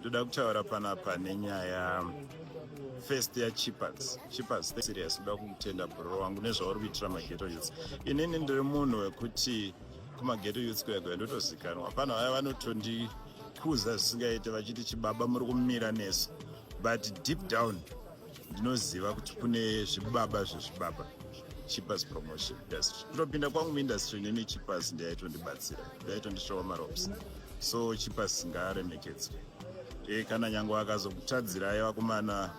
ndoda kutaura panapa nenyaya first yachipas chipas serious kuda kutenda bro wangu nezvauri kuitira mageto youth inini ndiri munhu wekuti kumageto youth kwega ndotozikanwa pano vaya vanotondikuza zvisingaite vachiti chibaba muri kumira nesu but deep down ndinoziva kuti kune zvibaba zvezvibaba chipas promotion industry kutopinda kwangu muindustry neni chipas ndiyaitondibatsira ndaitondishowa marops so chipas ngaaremekedzwe e kana nyange akazokutadzirai vakomana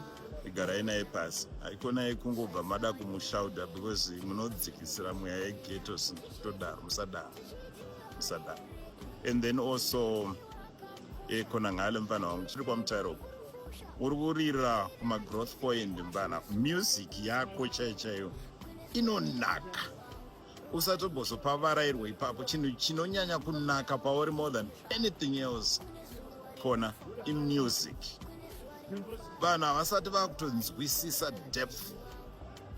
igarai naye pasi haikona yekungobva mada kumushauda because munodzikisira mweya yegeto sitodaro musadaro musadaro and then also e kona ngale mfana wangu chiri kwamutaira uko uri kurira kumagrowth point mfana music yako chaiyo chaiyo inonaka usatobozopavarairwa ipapo chinhu chinonyanya kunaka pauri more than anything else kona imusic vanhu havasati vakutonzwisisa depth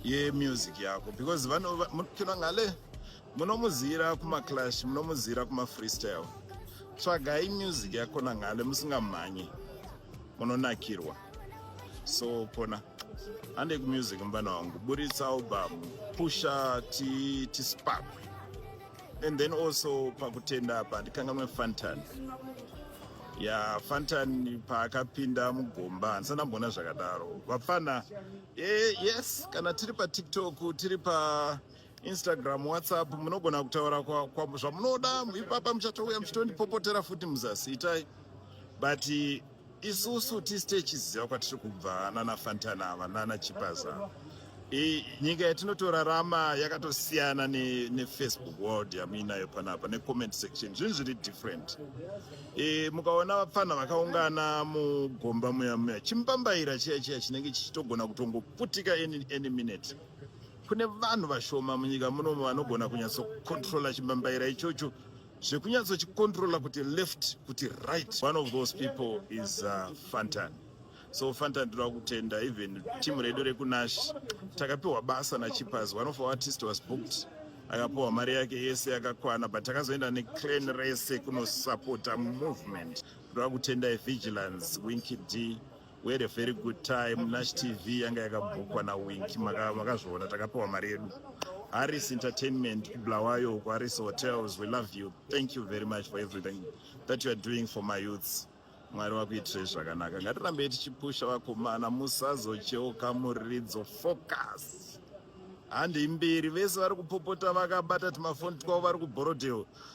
yemusic yako because vanokina ngale munomuziyira kumaclash munomuziyira kumafreestyle tsvagai music yakona ngale musingamhanyi munonakirwa so pona handei kumusic mubana wangu buritsa album pusha tispakwe ti and then also pakutenda apa ndikangamwe fantan ya fantan paakapinda mugomba handisa ndamboona zvakadaro vapfana e, yes kana tiri patiktok tiri pa Instagram, WhatsApp munogona kutaura kwa, kwa zvamunoda ipapa muchatouya muchitondipopotera futi muzasi itai but isusu tisi techiziva kwatiri kubva nana Fantana ava nana Chipaza I, nyika yatinotorarama yakatosiyana ne, ne Facebook world yamuinayo panapa ne comment section zvinhu zviri different e, mukaona vapfanha vakaungana mugomba muya muya chimupambaira chiya chiya chinenge chichitogona kutongoputika any, any minute Kune vanhu vashoma munyika munomu vanogona kunyatsokontrola chimbambaira ichocho zvekunyatsochikontrola kuti left kuti right. One of those people is uh, Fantan. So Fantan ndinoda kutenda even team redu rekunash takapiwa basa naChipas. One of our artists was booked akapiwa mari yake yese yakakwana but takazoenda neclan rese kunosupporta movement. Ndinoda kutenda vigilance winky d We had a very good time. Nash TV yanga yakabhukwa na Winky makazviona takapiwa mari yedu. Harris Entertainment Bulawayo ku Harris Hotels we love you. Thank you very much for everything that you are doing for my youths. Mwari wakuitire zvakanaka. Ngatirambe tichipusha vakomana musazocheuka muridzo focus. Handi mbiri vese vari kupopota vakabata timafoni twavo vari kubhorodhewo.